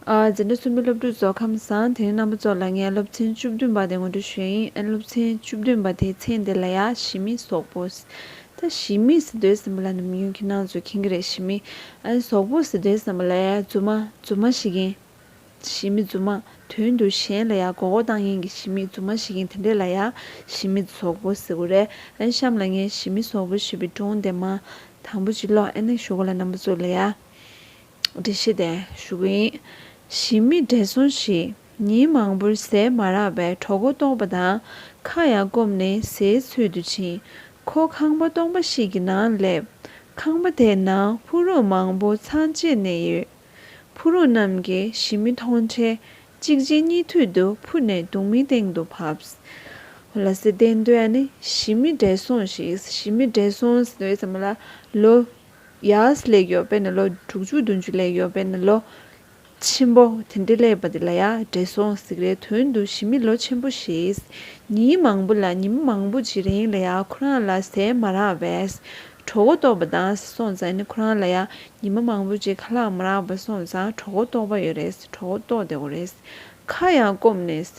འཛིན་གྲྭ་གསུམ་པའི་སློབ་ཕྲུག་ཚོ་ཁམས་བཟང་དེ་རིང་རྣམ་པ་ཚོ་ལ་ངས་སློབ་ཚན་བཅུ་བདུན་པ་དེ་ངོ་སྤྲོད་ཞུས་ཡིན་ཨེ་སློབ་ཚན་བཅུ་བདུན་པ་དེའི་ཚན་དེ་ལ་ཡ་ཞི་མི་སོག་པོ། ད་ཞི་མི་ཟེར་དོན་ཟིན་པ་ལ་ནམ་རྒྱུན་ཁྱི་ནང་ཚོས་ཁེངས་གི་རེད་ཞི་མི། སོག་པོ་ཟེར་དོན་ཟིན་པ་ལ་ཡ་རྫུན་མ་རྫུན་མ་ཞིག་ཡིན། ཞི་མི་རྫུན་མ་དོན་དུ་གཞན་ལ་ཡ་མགོ་སྐོར་བཏང་ཡིན་གི་ཞི་མི་རྫུན་མ་ཞིག་ཡིན་དེ་འདྲས་ལ་ཡ་ཞི་མི་སོག་པོ་ཟེར་གི་རེད་ཨེ་གཤམ་ལ་ངས་ཞི་མི་སོག་པོ་ཞེས་པའི་སྒྲུང་དེ་མ་དང་པོ་གཅིག་ཀློག་ཨེ་ན་ཞུ་གོ་ལ་རྣམ་པ་ཚོ་ལ་ཡ། འདྲེ་ཞི་བདེ་ཞུ་གི་ཡིན། ཞི་མི་བདེ་སོང་ཞིག་ཉིན་མང་པོར་ཟས་མ་རག་པའི་གྲོགས་པོ་སྟོང་པ་དང་ཁ་ཡར་བསྐོམས་ནས་ཟས་འཚོལ་དུ་ཕྱིན། ཁོ་ཁང་པ་སྟོང་པ་ཞིག་གི་ནང་སླེབས། ཁང་པ་དེའི་ནང་ཕུག་རོན་མང་པོ་ཚང་བཅས་ནས་ཡོད། ཕུག་རོན་རྣམས་ཀྱིས་ཞི་མི་མཐོང་འཕྲལ་གཅིག་རྗེས་གཉིས་མཐུད་དུ་འཕུར་ནས་དུང་མིའི་སྟེང་དུ་བབས། ཁོ་ལ་ཟས་སྟེར་འདོད་ཡ་ནི་ཞི་མི་བདེ་སོང་ཞིག་ཟས་མི་བདེ་སོང་ཟེར་བའི་ཚད་མ་ལ་ལོ། ཡཱས་ལས་ཡོད་པས་ནི་ལོ་དྲུག་ཅུ་བདུན་ཅུ་ལས་ཡོད་པས་ནི་ལོ་ཆེན་པོ་དེ་འདྲ་ལས་པ་འདི་ལ་ཡང་བྲེ་སྲོང་གཟིགས་རའི་དོན་དུ་ཞི་མི་ལོ་ཆེན་པོ་ཞེས་ཉིན་མང་པོ་ལ་ཉི་མ་མང་པོ་གྱི་རིང་ལ་ཡང་ཁོ་རང་ལ་ཟས་མ་རག་པས་གྲོགས་བོ་ལྟོགས་པ་དང་ཟས་སོང་ཙང་ནི་ཁོ་རང་ལ་ཡང་ཉི་མ་མང་པོ་གྱི་ཁ་ལག་མ་རག་པ་སོང་ཙང་གྲོགས་བོ་ལྟོགས་པ་ཡོད་རེས་གྲོགས་བོ་ལྟོགས་བདེ་བོ་རེས་ཁ་ཡང་སྐོམ་ནས་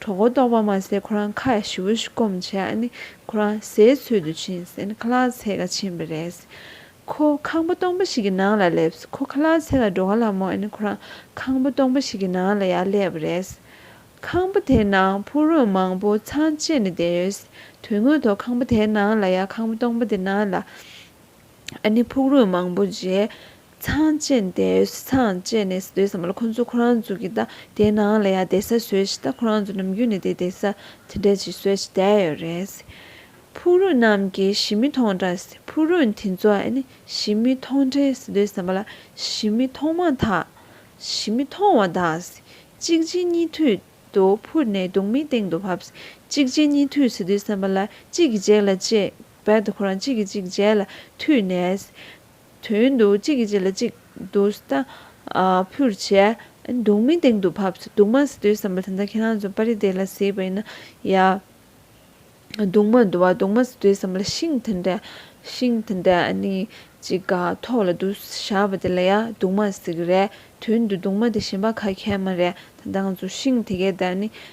གྲོགས་གོ་ལྡོག་པ་མ་ཟད་ཁོ་རང་ཁ་ཞི་བོ་ཞིག་སྐོམ་བྱས་ཨ་ནི་ཁོ་རང་ཟས་འཚོལ་དུ་ཕྱིན་ཟེར་ནས་ཁ་ལག་ཚད་ཀ་ཕྱིན་པ་རེད། ཁོ་ཁང་པ་སྟོང་པ་ཞིག་གི་ནང་ལ་སླེབས། ཁོ་ཁ་ལག་ཚད་ལ་འགྲོ་ག་ལ་མོ་ཨ་ནི་ཁོ་རང་ཁང་པ་སྟོང་པ་ཞིག་གི་ནང་ལ་ཡར་སླེབས་པ་རེད། ཁང་པ་དེའི་ནང་ཕུག་རོན་མང་པོ་ཚང་བཅས་ནས་བསྡད་ཡོད། དོན་དངོས་ཐོག་ཁང་པ་དེའི་ནང་ལ་ཡང་ཁང་པ་སྟོང་པ་དེ་ནང་ལ། ཨ་ནི་ཕུག་རོན་མང་པོ་རྗེས་ཚང་བཅད་འདས་ཚང་བཅད་ནས་སྡོད་བསམ་ལ་ཁོ་ཚོ་ཁོ་རང་ཚོ་གི་ད་དེ་ནང་ལ་ཡ་བསྡད་ས་བཟོས་ཤིག་ད་ཁོ་རང་ཚོ་ནམ་རྒྱུན་ནས་དེ་བསྡད་ས་དེ་འདྲ་ཅིག་བཟོས་ཤིག་བསྡད་ཡོད་རེད། ཕུག་རོན་རྣམས་ཀྱིས་ཞི་མི་མཐོང་འདྲ་ཕུག་རོན་དེ་ཚོ་ཨ་ནི་ཞི་མི་མཐོང་འདྲའི་སྡོད་བསམ་པ་ལ་ཞི་མི་མཐོང་མ་ཐག་ཞི་མི་མཐོང་བ་དག་གཅིག་རྗེས་གཉིས་མཐུད་དུ་འཕུར་ནས་སྡུག་མིའི་སྟེང་དུ་བབས་གཅིག་རྗེས་གཉིས་མཐུད་སྡོད་བསམ་པ་ལ་གཅིག་གི་རྗེས་ལ་བཅད་བས་དུ་ཁོ་རང་གཅིག་གིས་གཅིག་རྗེས་ལ་མཐུད་ནས། དོན་དུ་གཅིག་གིས་གཅིག་ལ་གཅིག་སྡུག་ས་ཕུར་བྱས། སྡུག་མིན་སྟེང་དུ་བབས། སྡུག་མ་ཟེར་དུས་བསམ་པ་དེ་འདྲ་ཁྱེད་རང་ཚོ་པར་རིས་དེ་ལ་གཟིགས་པ་ཡིན་ན་ཡ། སྡུག་མ་འདུག་བ་སྡུག་མ་ཟེར་དུས་བསམ་པ་ལ་ཤིང་དེ་འདྲ་ཤིང་དེ་འདྲ་ནི་གཅིག་ག་ཐོག་ལ་འདུག་བཞག་པ་དེ་ལ་ཡ་སྡུག་མ་ཟེར་གི་རེད་དོན་དུ་སྡུག་མ་དེ་གཞན་པ་ག་ཁྱེད་མ་རེད་ད་འདང་ཚོ་ཤིང་དེ་གའི་བརྡར་ནི།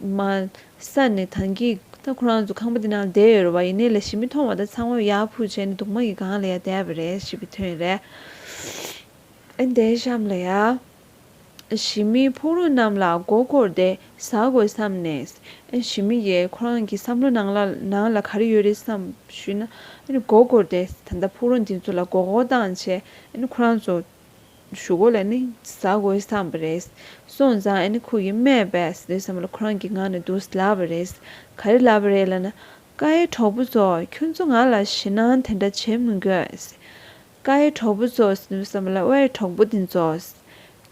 མ། ས་ནི་དང་གི། ད་ཁོ་རང་ཚོ་ཁང་པ་འདི་ནང་ལ་བསྡད་ཡོད་རེད་བ་ཡིན་ནའི་ལས་ཞིག་མི་མཐོང་བ་ད་ཚང་མ་ཡར་འཕུར་བྱས་ནས་དུག་མ་གི་སྒང་ལ་ཡར་བསྡད་པ་རེད་ཞེས་པའི་དོན་རེད། ཨེ་འདའི་གཤམ་ལ་ཡར། ཞི་མིའི་ཕུག་རོན་རྣམས་ལ་མགོ་སྐོར་ཏེ་ཟ་དགོས་བསམ་ནས། ཨེ་ཞི་མི་ཡས་ཁོ་རང་གི་བསམ་བློ་ནང་ལ་ནང་ལ་ག་རེ་ཡོད་རེད་བསམ་ཞུས་ན། ཨེ་ནི་མགོ་སྐོར་ཏེ་ད་ད་ཕུག་རོན་འདི་ཚོ་ལ་མགོ་བསྐོར་སྟངས་བྱེད། ཨེ་ནི་ཁོ་རང་ཚོ། ཞུ་སྒོ་ལ་ནི་ཟ་དགོས་བསམས་པ་རེད། སོང་ཙང་ཨ་ནེ་ཁོ་གིས་སྨྲས་པས་འདོད་བསམ་ལ་ཁོ་རང་གི་ངང་ནས་འདུག་སླ་བ་རེད། ག་རེ་ལབ་པ་རེད་ལབ་ན། ཀ་ཡེ་གྲོགས་པོ་ཚོ་ཁྱོད་ཚོ་ང་ལ་ཞེད་སྣང་དེ་འདྲ་བྱེད་མི་དགོས། ཀ་ཡེ་གྲོགས་པོ་ཚོ་འདོད་བསམ་ལ་ཨ་ཡེ་གྲོགས་པོ་དེ་ཚོ།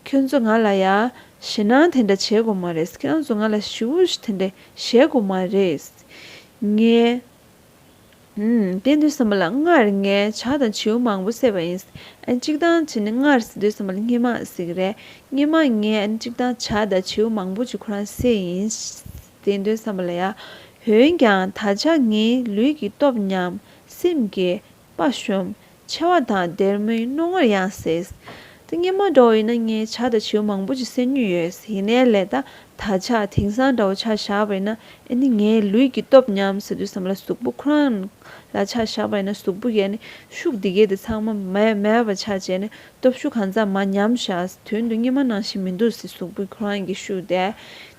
ཁྱོད་ཚོ་ང་ལ་ཡ་ཞེད་སྣང་དེ་འདྲ་བྱེད་དགོས་མ་རེད་ཁྱོད་ཚོ་ང་ལ་ཞི་བོ་དེ་འདྲ་བྱེད་དགོས་མ་རེད། ངས་དེས་འདོད་བསམ་པ་ལ་སྔར་ངས་བྱ་དང་བྱིའུ་མང་པོ་བསད་པ་ཡིན། གཅིག་དང་གཅིག་ནི་སྔར་འདོད་བསམ་པ་ལ་སྙེ་མ་ཟིག་རེད། སྙེ་མ་ངས་གཅིག་དང་བྱ་དང་བྱིའུ་མང་པོ་གཅིག་ཁོ་རང་བསད་ཡིན། དེས་འདོད་བསམ་པ་ལ་ཡ། འོན་ཀྱང་ད་ཆ་ངའི་ལུས་ཀྱི་སྟོབས་ཉམས། སེམས་ཀྱི། པ་ཤོམ། མཆེ་བ་དང་སྡེར་མོའི་རྣོ་ངར་ཡང་སེལ། ཏིང་ངེ་མ་འདྲ་བ་ཡིན་ན་ངས་བྱ་དང་བྱེའུ་མང་པོ་ཅིག་བསད་ཉོས་ཡོད། ཡིན་ནའི་ལས་ད་ད་བྱ་དེང་སང་འདྲ་བོ་བྱ་བཞག་པ་ཡིན་ན་ཨེ་ནི་ངའི་ལུས་ཀྱི་སྟོབས་ཉམས་ཟེར་དུས་སམ་ལ་གཟུགས་པོ་ཁོ་རང་ལ་བྱ་བཞག་པ་ཡིན་ན་གཟུགས་པོ་ཡལ་ནས་ཤུགས་འདི་གས་དེ་ཚང་མ་མེད་པ་ཆགས་བྱས་ནས་སྟོབས་ཤུགས་གང་ཙམ་མ་ཉམས་བཞག་དོན་དུ་སྙིགས་མ་ནང་བཞིན་མི་འདུག་ཟེར་གཟུགས་པོ་ཁོ་རང་གི་ཤུགས་དེ་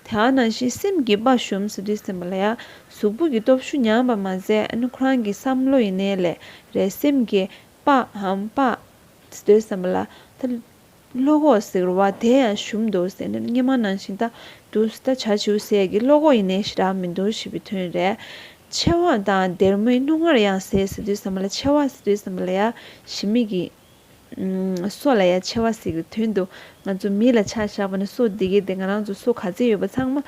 དེའང་ནང་བཞིན་སེམས་ཀྱི་པ་ཤོམ་ཟེར་དུས་སེམས་པ་ལ་ཡང་གཟུགས་པོ་གི་སྟོབས་ཤུགས་ཉམས་པ་མ་ཟད་ཨ་ཁོ་རང་གི་བསམ་བློ་ཡི་གནས་ལས་རེད་སེམས་ཀྱི་པའམ་པདྨས་སྡོད་བསམ་པ་ལ་ད་བློ་ཁོག་ཟེར་བ་དེ་ཡང་ཞུམ་འདུག་ཟེར་ནས་སྙན་མང་ནང་བཞིན་ད་དུ་ད་བྱ་བྱིའུ་ཟས་ཀྱི་བློ་ཁོག་ཡི་གནས་ཤི་རག་མི་འདུག་ཞེས་པའི་དོན་རེད། མཆེ་བ་དང་སྡེར་མོའི་རྣོ་ངར་ཡང་ཟས་སུ་སྡོད་བསམ་པ་ལ་མཆེ་བ་ཟས་སྡོད་བསམ་པ་ལ་ཡ་ཞི་མི་གི་སོ་ལ་ཡ་མཆེ་བ་ཟེར་བའི་དོན་འདུག་ང་ཚོ་མི་ལ་ཆ་བཞག་པ་ནི་སོ་འདི་གས་དེ་ང་རང་ཚོ་སོ་ག་ཚད་ཡོད་པ་ཚང་མ་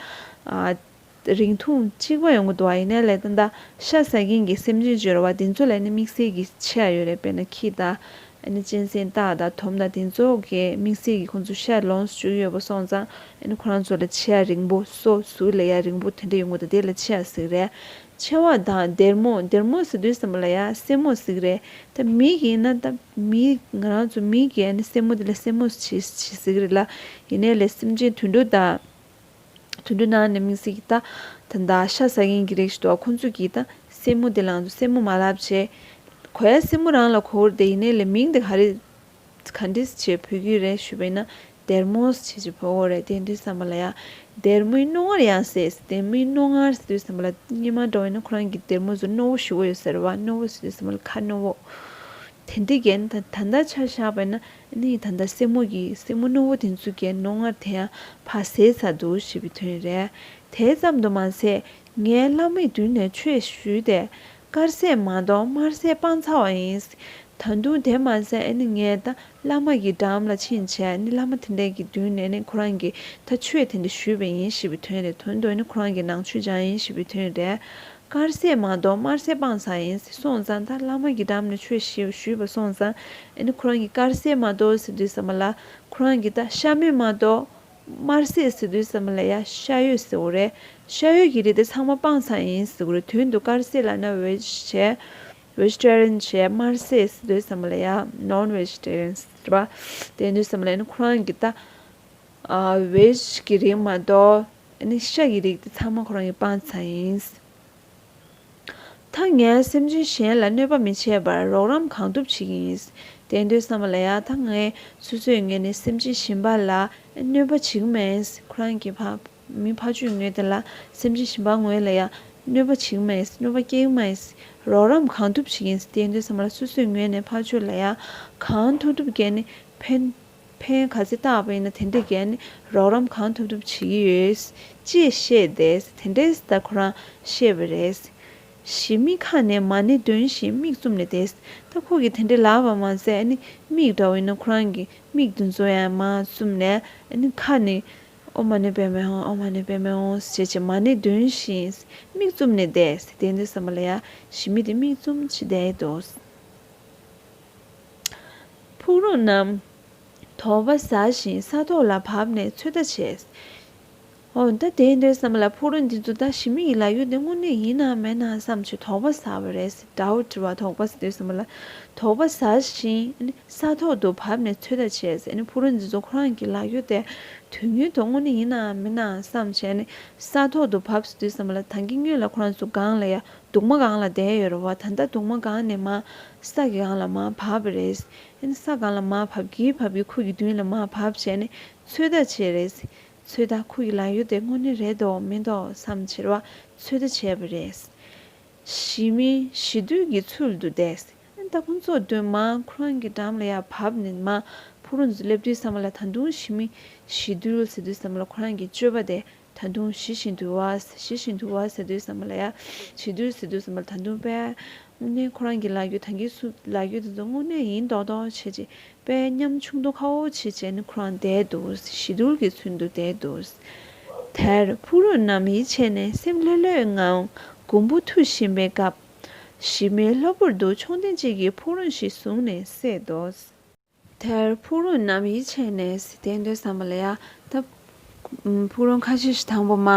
རིང་ཐུང་གཅིག་པ་ཡོང་གི་འདུག་བ་ཡིན་ནའི་ལས་དོན་དང་ཤ་ཟ་མཁན་གྱི་སེམས་ཅན་བཅོས་ར་བ་དེ་ཚོ་ལས་ནི་དམིགས་བསལ་གྱི་ཆེ་ཡ་ཡོད་རེད་དཔེར་ན་ཁྱི་དང། ཨ་ནི་གཅན་གཟན་སྟག་དང་དོམ་དང་དེ་ཚོ་གས་དམིགས་བསལ་གྱི་ཁོང་ཚོ་ཤ་ལོངས་སུ་སྤྱོད་ཀྱི་ཡོད་པ་སོང་ཙང་ཨ་ནི་ཁོ་རང་ཚོ་ལ་ཆེ་ཡ་རིང་པོ་སོ་སོའི་ལས་ཡ་རིང་པོ་དེ་འདྲ་ཡོང་གི་འདུག་དེ་ལ་ཆེ་ཡ་ཟིག་རེད། ཆེ་བ་དང་སྡེར་མོ་སྡེར་མོ་ཟེར་དུས་སེན་མོ་ལ་ཡ་སེན་མོ་ཟིག་རེད་ད་མི་ཡིན་ན་ད་མི་ང་རང་ཚོ་མི་གས་ཨ་ནི་སེན་མོ་དེ་ལ་སེན་མོ་ཟིག་རེད་ལ་ཡིན་ནའི་ལས་སེམས་ཅན་དུད་འགྲོ་དང། དུད་འགྲོའི་ནང་ནས་མིང་སྲིང་གི་རྟགས་དང་དག་ཤ་ཟ་མཁན་གྱི་རིགས་ཤིག་འདུག་ཁོ་ཚོས་གིས་ད་སྲས་མོ་དེ་ལངས་སོ་སྲས་མོ་མ་ལབ་བྱས། གོ་ཡ་སྲས་མོ་རང་ལ་ཁོ་བོར་དེ་ཡིན་ནའི་ལེ་མིང་དེ་ག་རེད། ག་འདྲིས་བྱས་ཕོད་རྒྱུ་རེད་ཞུས་པས་ན་སྡེར་མོས་བྱས་ཀྱི་ཕོ་བོ་རེད་དེ་འདྲའི་བསམ་པ་ལ་ཡང། སྡེར་མོའི་རྣོ་ངར་ཡང་ཟེར་སྡེར་མོའི་རྣོ་ངར་ཟེར་དུས་བསམ་པ་ལ་སྙེ་མ་འགྲོ་བས་ན་ཁོ་རང་གིས་སྡེར་མོ་ཟུར་རྣོ་བོ་ཞུ་གི་ཡོད་ཟེར་བ་རྣོ་བོ་ཟེར་དུས་བསམ་པ་ལ་ཁ་རྣོ་བོ། དེ་འདྲའི་རྒྱན་ད་ལྟ་ཆ་བཞག་པས་ན་ནི་ད་ལྟ་སྲིང་མོ་ཡིས་སྲིང་མོ་རྣོན་བོ་དེ་ཚོའི་གྱེན་རྣོ་ངར་དེ་ཡང་ཕ་ཟས་ཟ་འདུག་ཞེས་པའི་དོན་རེད། དེ་ཙམ་དུ་མ་ཟད་ངས་བླ་མའི་མདུན་ནས་ཆོས་ཞུས་ཏེ། དཀར་ཟས་མ་གཏོགས་དམར་ཟས་སྤངས་ཚར་བ་ཡིན། ད་དུང་དེ་མ་ཟད་ནི་ངས་ད་བླ་མ་ཡི་འགྲམ་ལ་ཕྱིན་བྱས་ནི་བླ་མ་དེ་འདྲའི་གྱི་མདུན་ནས་ནི་ཁོ་རང་གིས་ད་ཆོས་དེ་འདྲ་ཞུས་པ་ཡིན་ཞེས་པའི་དོན་རེད་དོན་དུ་ནི་ཁོ་རང་གི་ནང་ཆོས་སྦྱངས་ཡིན་ཞེས་པའི་དོན་རེད། དཀར་ཟས་མ་གཏོགས་དམར་ཟས་སྤང་ཚར་ཡིན་ཟེར་སོང་ཙང་ད་བླ་མ་གི་འགྲམ་ནས་ཆོས་ཞུས་ཞུས་པ་སོང་ཙང་ཨེ་ནི་ཁོ་རང་གི་དཀར་ཟས་མ་གཏོགས་ཟེར་དུས་ཟ་མ་ལ་ཁོ་རང་གི་ད་ཤ་མོད་མ་གཏོགས་དམར་ཟས་ཟེར་དུས་ཟ་མ་ལ་ཡ་ཤ་ཡོད་ཟེར་བོ་རེད་ཤ་ཡོད་ཀྱི་རིགས་དེ་ཚང་མ་སྤང་ཚར་ཡིན་ཟེར་བོ་རེད་དོན་དུ་དཀར་ཟས་ལ་ན་བེ་ཇི་བྱས Vegetarian བྱས་དམར་ཟས་ཟེར་དུས་ཟ་མ་ལ་ཡ Non Vegetarian ཟེར་བ་དེ་དུས་ཟ་མ་ལ་ཨེ་ནི་ཁོ་རང་གི་ད་བེ་ཇི་གི་རིགས་མ་གཏོགས། ནི་ཤ་ཡི་རིགས་དེ་ཚང་མ་ཁོ་རང་གི་སྤང་བྱ་ཡིན། ད་ངས་སེམས་ཅན་གཞན་ལ་གནོད་པ་མི་བྱེད་པར་རོགས་རམ་གང་ཐུབ་བྱེད་ཀྱི་ཡིན། དེ་འདོད་བསམ་པ་ལ་ཡང་ད་ངས་སོ་སོས་ངས་ནི་སེམས་ཅན་གཞན་པ་ལ་གནོད་པ་བྱེད་ཀྱི་མེད། ཁོ་རང་གི་ཕ་མི་ཕ་ཆོས་ངན་དེ་ལ་སེམས་ཅན་གཞན་པ་ངོས་ལ་ཡང་གནོད་པ་བྱེད་ཀྱི་མེད་གནོད་པ་སྐྱེལ་གྱི་མེད། རོགས་རམ་གང་ཐུབ་བྱེད་ཀྱི་ཡིན་དེ་འདོད་བསམ་པ་ལ་སོ་སོས་ངས་ནི་ཕ་ཆོས་ལ་ཡང་གང་ཐུབ་ཐུབ་ཀྱིས་ནི་ཕན། ཕན་ག་ཚད་བཏགས་པ་ཡིན་ན་དེ་འདྲའི་རྒྱལ་ནས་རོགས་རམ་གང་ཐུབ་ཐུབ་བྱེད་ཀྱི་ཡོད། ཅེས་བཤད་དེ་དེ་འདྲའི་ལྟར་ཁོ་རང་བཤད་པ་རེད། ཞེས་མིག་ཁ་ནས་མ་ཎི་འདོན་བཞིན་མིག་བཙུམ་ནས་བསྡད། ད་ཁོ་གིས་དེ་འདྲའི་ལབ་པ་མ་ཟད་མིག་འདྲ་བོ་ཡིན་ན་ཁོ་རང་གི་མིག་དེ་ཚོ་ཡང་མ་བཙུམ་ནས་ཁ་ནས་ཨོ་མ་ཎི་པད་མའི་ཧོང་ཨོ་མ་ཎི་པད་མའི་ཧོང་ཞེས་བྱས་མ་ཎི་འདོན་བཞིན་མིག་བཙུམ་ནས་བསྡད། དེ་འདྲའི་བསམ་པ་ལ་ཡ། ཞེས་མི་དེ་མིག་བཙུམ་བྱས་བསྡད། ཕུག་རོན་རྣམས་དོག་པ་ཟ་ཞིང་ས་ཐོག་ལ་བབས་ནས་ཚོད་ལྟ་བྱེད། འོན་ཏེ་དེ་འདོད་བསམས་ལ་ཕུག་རོན་འདི་ཚོ་ད་ཞི་མི་ཡི་ལ་ཡོད་དེ་དངོས་གནས་ཡིན་ནམ་མེད་ནམ་བསམས་ཆུ་དོག་པ་ཟ་བ་རེད་ཟེར་དགྲ་བོ་བྲི་བ་དོག་པ་ཟ་འདོད་བསམས་ལ་དོག་པ་ཟ་ཞིང་ས་ཐོག་ཏུ་བབས་ནས་ཚོད་ལྟ་བྱེད། ཕུག་རོན་འདི་ཚོ་ཁོ་རང་གི་ལ་ཡོད་དེ་དུས་ངན་དུ་དངོས་གནས་ཡིན་ནམ་མིན་ནམ་བསམས་བྱས་ནས་ས་ཐོག་ཏུ་བབས་ཟ་འདོད་བསམས་ལ་ད་གིན་སྙོད་ལ་ཁོ་རང་ཚོ་སྒང་ལ་ཡ་གདུང་མ་སྒང་ལ་བསྡད་ཡོད་རེད་བ་ད་ལྟ་གདུང་མ་སྒང་ནས་མ་ས་གི་སྒང་ལ་མ་བབས་པ་རེད། ཨིན་ས་སྒང་ལ་མ་བབས་ཀྱི་བབས་ཀྱི་ཁུག་གི་མདུན་ལ་མ་བབས་བྱས་ནས་ཚོད་ལྟ་བྱས་རེད། ཚོད་ལྟ་ཁུག་གི་ལ་ཡོད་དེ་དངོས་གནས་རེད་འདོག་མི་འདོག་བསམ་ཕྱིར་བ་ཚོད་ལྟ་བྱས་པ་རེད། གཞིས་མི་གཞིས་དུས་ཀྱི་ཚུལ་དུ་བསྡད། ཨིན་ད་ཁོང་ཚོ་མདུན་མ་ཁུ་རང་གི་འགྲམ་ལ་ཡར་བབས་ནས་མ་ཕུག་རོན་དུ་སླེབས་དུས་བསམ་བ་ལ་ད་དུང་གཞིས་མི་གཞིས་དུས་ལ་ཟེར་དུས་བསམ་བ་ལ་ཁོ་རང་གི་སྤྱོད་པ་དེ་ད་དུང་ཞི་ཞིང་དུལ་བ། ཞི་ཞིང་དུལ་བ་ཟེར་དུས་བསམ་པ་ལ་ཡ། ཞི་དུལ་ཟེར་དུས་བསམ་པ་ལ་ད་དུང་པས། དངོས་གནས་ཁོ་རང་གི་ལག་རྒྱུད་དང་གི་སུ་ལག་རྒྱུད་དེ་ཚོ་དངོས་གནས་ཡིན་མདོག་མདོག་བྱེད་ཅིག་པས་ཉམ་ཆུང་དོ་ཁ་འོ་བྱེད་བྱེད་ནི་ཁོ་རང་བསྡད་འདུག་ཞི་དུལ་གྱི་ཚུལ་དུ་བསྡད་འདུག། དེར་ཕུག་རོན་རྣམས་ཡིད་ཆད་ནས་སེམས་ལྷོད་ལྷོད་ངང་གོང་བུ་འཐུ་བཞིན་པའི་སྐབས། ཞི་མེད་ལྷོད་པོར་དུ་མཆོང་ཐེངས་གཅིག་གིས་ཕུག་རོན་ཞིག་བཟུང་ནས་བསད་དོ། དེར་ཕུག་རོན་རྣམས་ཡིད་ཆེས་ནས་བཟི་སྟེ་འདོད་བསམ་པ་ལ་ཡ་ད། ཕུག་རོན་ཁ་ཤས་ཤིག་དང་པོ་མ་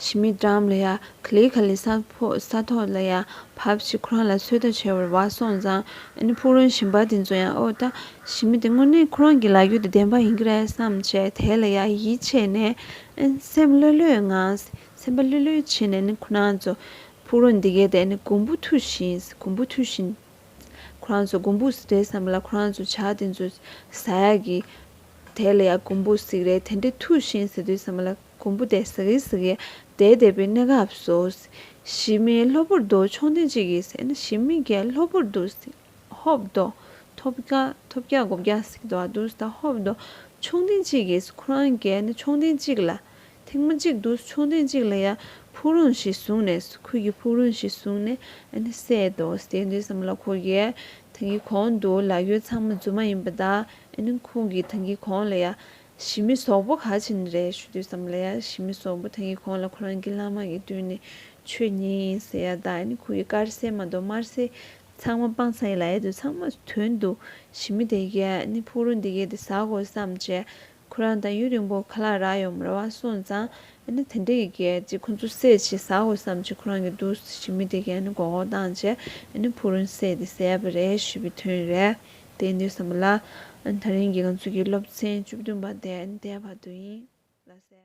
ཤི་མི་དྲང་ལ་ཡ། ག་ལི་ག་ལི་ས་ཕོ་ས་ཐོག་ལ་ཡ། བབ་ཅིག་ཁོ་རང་ལ་ཚོད་ལྟ་བྱེད་བར་བ་སོང་ཙང། ཨ་ནི་ཕུག་རོན་ཞིམ་པ་དེ་ཚོ་ཡང་ཨོ་ད། ཞི་མི་དེ་དངོས་གནས་ཁོ་རང་གི་ལག་རྒྱུད་དུ་བདེན་པ་ཡིན་གྱི་རེད་བསམ་བྱས་དེ་ལ་ཡ་ཡིད་ཆེས་ནས། སེམས་བློ་ལོའི་ངང་སེམས་པ་ལྷོད་ལྷོད་བྱེད་ནས་ནི་ཁོ་རང་ཚོ། ཕུག་རོན་འདི་གས་ཏེ་ནི་གོང་བུ་མཐུ་བཞིན་གོང་བུ་མཐུ་བཞིན། ཁོ་རང་ཚོ་གུམ་བུ་རེད་བསམ་ལ་ཁོ་རང་ཚོ་བྱ་དེ་ཚོ་ཟ་ཡ་གི། དེ་ལ་ཡང་གུམ་བུ་ཟིག་རེད་དེ་འདྲས་ཐུག་ཤིང་ཟེར་དུས་བསམ་ལ་གུམ་བུ་དེ་ཟིག་རེད་ཟིག་རེད་དེ་འདས་པའི་གནས་སྐབས་སུ། ཞི་མི་ལྷོད་པོར་འདུག་ཆུང་དེ་གཅིག་གིས་ཟེར་ན་ཞི་མི་གས་ལྷོད་པོར་འདུག་ཟེར། ཧོབ་འདུག་ཐོབ་བརྒྱ་ཐོབ་བརྒྱ་དགུ་བརྒྱ་ཟིག་འདུག་ཨ་འདུག་ཟེར་ན་ཧོབ་འདུག་ཆུང་དེ་གཅིག་གིས་ཁོ་རང་གས་ན་ཆུང་དེ་གཅིག་ལ། ཐེངས་མ་གཅིག་ཏུ་མཆོད་རྟེན་གཅིག་ལ་ཡང་ཕུག་རོན་ཞིག་བཟུང་ནས་ཁུལ་གྱི་ཕུག་རོན་ཞིག་བཟུང་ནས་བསད་དོ་བསད་དུས་སམ་ལ་ཁོ་གིས་ཐེངས་ཀྱི་གོང་དུ་ལག་ཡོད་ཚང་མ་རྫུན་མ་ཡིན་པ་དང་ཁོང་གིས་ཐེངས་ཀྱི་གོང་ལ་ཡང་ཞི་མི་ཟོག་པོ་ག་ཆེན་རེད་ཞུ་དུས་སམ་ལ་ཡང་ཞི་མི་ཟོག་པོ་ཐེངས་ཀྱི་གོང་ལ་ཁོ་རང་གི་བླ་མ་གི་དུས་ནས་ཆོས་ཉིད་ཡིན་ཟེར་ཡ་དང་ཁོ་གི་དཀར་ཟས་མ་གཏོགས་དམར་ཟས་ཚང་མ་སྤང་ས་ཡི་ལ་ཡ་དུས་ཚང་མ་དོན་དུ་ཞི་མི་དེ་གས་ཕུག་རོན་དེ་གས་དེ་ཟ་དགོས་སམ་ཅེས་ཁོ་རང་དང་ཡུན་རིང་པོ་ཁ་ལག་རག་ཡོང་མི་ར་བ་སོང་ཙང་ཨ་ནི་དེ་འདྲ་ཡི་གེ་གཅིག་ཁོ་ཚོ་སེ་བྱེད་ཟ་དགོས་བསམ་ཆེད་ཁོ་རང་གི་འདུག་ཟེ་བྱེད་མི་དེ་གས་ཨ་ནི་གོག་གོག་བཏང་ཆེད་ཨ་ནི་ཕུག་རོན་སེ་དེ་ཟས་པ་རེད་ཞུས་པའི་དོན་རེད་དེ་འདུག་བསམ་པ་ལ། ཨ་ནི་ད་རིང་གི་ང་ཚོ་གི་སློབ་ཚན་བཅུ་བདུན་པ་དེ་ཨ་ནི་དེའི་བར་དུ་ཡིན་ལ་ཟེར།